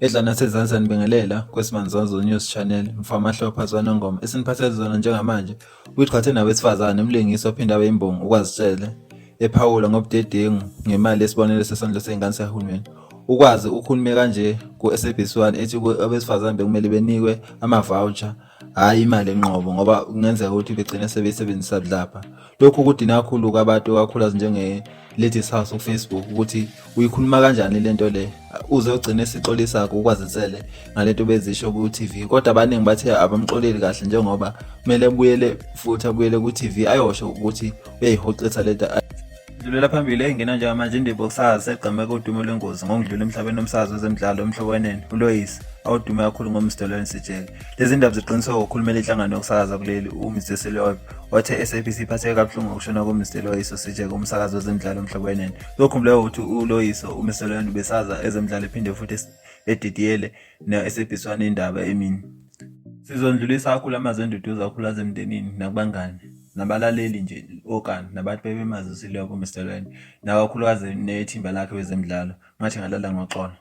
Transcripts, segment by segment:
Edla nasezansi anibingelela kwesibanzonzo news channel mfama hlopha zwanongoma esiniphathele zona njengamanje uyithwathe nawesifazane umlingisi ophinde abe imbongi ukwazitshele ephawula ngobudedengu ngemali yesibonelo sesondlo sey'ngane sikahulumeni ukwazi ukhulume kanje ku-sabc one ethi abesifazane bekumele benikwe ama-voucher hhayi imali enqobo ngoba kungenzeka ukuthi begcine sebeyisebenzisa budlabha lokhu kudina kakhulu kwabantu kakhulukazi njenge-ladies house kufacebook ukuthi uyikhuluma kanjani le nto le uze ugcine sixolisakho ukwazisele ngale nto bezisho ku-tv kodwa abaningi bathe abamxoleli kahle njengoba kumele abuyele futhi abuyele ku-tv ayosho ukuthi uyayihoxisa le nto Dlulela phambili engena njengamanje indebe yokusakaza segqeme kodumo lwengozi ngokudlula emhlabeni omsakazo wezemidlalo emhlobaneni uloyisi awudume kakhulu ngomsdolweni sijele lezi ndaba ziqiniswe ngokhulumela inhlangano yokusakaza kuleli umr selob wathe i-sabc iphatheke kabuhlungu ngokushona komr loyiso sijeke umsakazi wezemidlalo emhlobaneni kuyokhumbuleka ukuthi uloyiso umr seloyeni ubesaza ezemidlalo ephinde futhi edidiyele ne-sabc wane indaba emini sizondlulisa kakhulu amazwi enduduzo kakhulu azemndenini nakubangane nabalaleli nje okani nabantu bebemazisileko uMr Lwende nakakhulukazi nethimba lakhe wezemidlalo ngathi ngalala ngoxolo.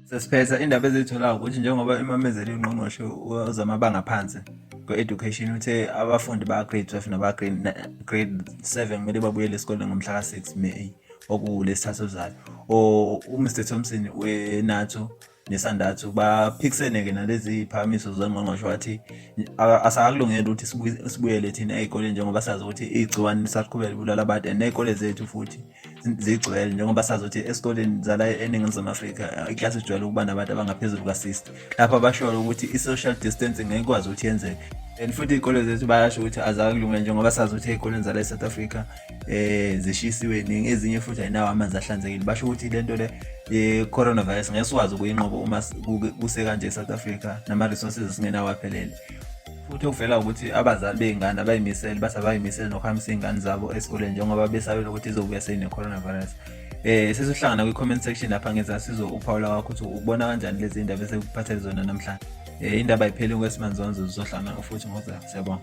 Sesiphetha indaba eziyitholayo ukuthi njengoba imamezele ungqongqoshe wezamabanga aphansi kwe-education uthe abafundi ba-grade 12 naba-grade 7 kumele babuyele esikoleni ngomhla ka-6 May okuwulesithathu ozayo. Umr Thompson weNATO nesandathu baphikisene-ke nalezi phakamiso zongqongqoshe wathi asakulungeli ukuthi sibuyele thina ey'koleni njengoba sazi ukuthi igciwane lisaqhubeka libulala abantu and ney'kole zethu futhi zigcwele njengoba sazi ukuthi esikoleni zala eningizimu afrika iklasi ijwayele ukuba nabantu abangaphezulu kwasista lapho basholo ukuthi i-social distancing ngekwazi ukuthi yenzeke and futhi iy'kole zethu bayasho ukuthi azakulungele njengoba sazi ukuthi ey'koleni zala e-south africa eh zishisiwe ningi ezinye futhi ayinawo amanzi ahlanzekile basho ukuthi lento le ye coronavirus ngeke sikwazi ukuyinqoba uma kuse kanje eSouth Africa nama resources esingenawo aphelele futhi okuvela ukuthi abazali bey'ngane abayimisele bathi abayimisele nokuhambisa iy'ngane zabo esikoleni njengoba besabela ukuthi izobuya seyine-coronavirus um eh, sesihlangana kwi-comment section lapha ngenza sizo uphawula kwakho ukuthi ubona kanjani lezi y'ndaba esekuphathele zona namhlanje um indaba ayipheli kwesimanje zonzo zizohlangana futhi ngoza siyabonga